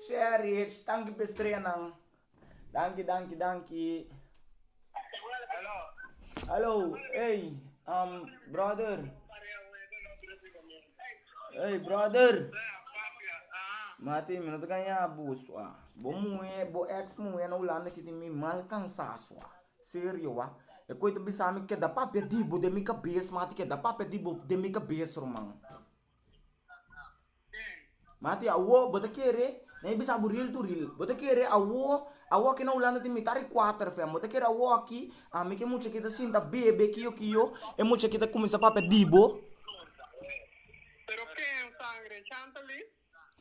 Sherifs tanki pa e streanan. Danki danki danki. Hallo ey um brother ey brother mati mi no ta gana yabo sua bo muhe bo ex muhe na hulanda kiti mi mal kansa sua serio wa e ko ita bisami keda papia di bo den mi kabes mati keda papia di bo den mi kabes ruman. Mati, Awo, bo ta kere? Nan e bisa bo ril tu ril. Bo ta kere awo? Awo aki na Hulanda tin mitar di kuater fem. Bo ta kere awo aki? Ami e ke mucha ki ta sinta bebe kiyo kiyo, e mucha ki ta kuminsá papia di bo.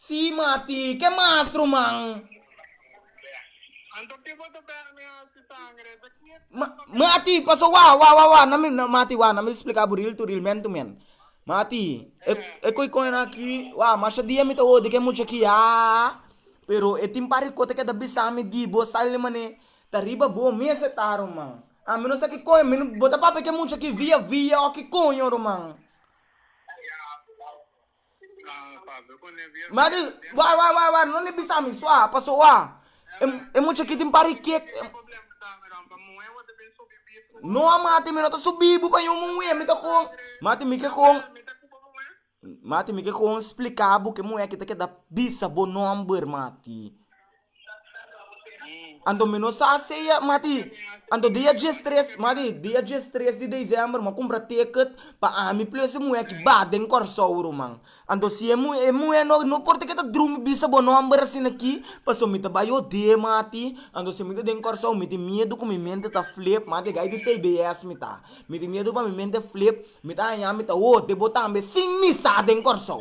Sí, Mati, ke mas ruman. Anto ki bo ta bera mi hasi sangre? Esa ki e Ma, trampa mi. Mati, paso wá, wá, wá, wá, na mi, na, Mati, wá, na mi spliká bo riltu, rilmentu men. Mati, e, e koi kònen aki, wá, masha dia mi ta odi ke mucha aki, ha, ha, ha, ha, pero e tin pari kota ke ta bisa mi di bo sali di manera, ta riba bo mes e ta, ruman. A mi no sa ki kònen, mi no, bo ta papia ke mucha aki via, via, o ki koño, ruman. Madi, Wak, wak, wak, wak, no ni bisa mi, sua, a pasó wak. E, e mucha aquí tin pari kiet, e. No, Mati, mi no ta su bibu pa yu muhé, mi ta con, Mati, mi ke con, Mati, mi ke con splica bo ke muhé aki ta keda bisa bo nomber, Mati. Anto mi no sa seya mati anto dia dies tres mati dia dies tres di december mi a kumpra tiket pa ami plus e muhé ki ba den kòrsou ruman anto si e muhé e muhé no no por ti ke ta drumi bisa bo nòmber asin aki pasobra mi ta bai odé mati anto si mi ta den kòrsou mi tin miedu ku mi mente ta flep mati gai di tbs mi ta mi tin miedu pa mi mente flep mi ta haña mi ta odé bo tambe sin mi sa den kòrsou.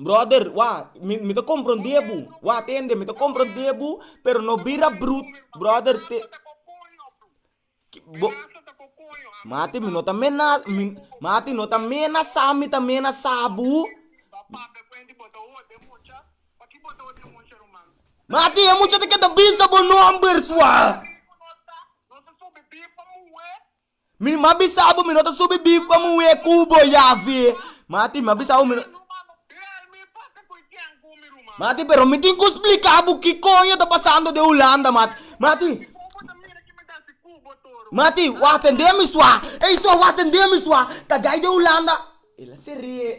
Brother, wak, mi, mi ta comprende bu, wak tende, mi ta comprende bu, pero no bira brut, brother, te, ki, bo, mati mi no ta mena, mi, mati no ta menasa mi ta menasa bu, mati e mucha ta keda bisa bo nombers wak. Mi m'a bisa bo mi no ta subi bif pa muhé ku bo yavi. Mati, m'a bisa bo mi no. Mati, pero mi tin ku splika bo ki koño ta pasando den Hulanda, mati. Mati, mati, wak tendé mi sua. Ey so, wak tendé mi sua. Ta dai den Hulanda. El a seré.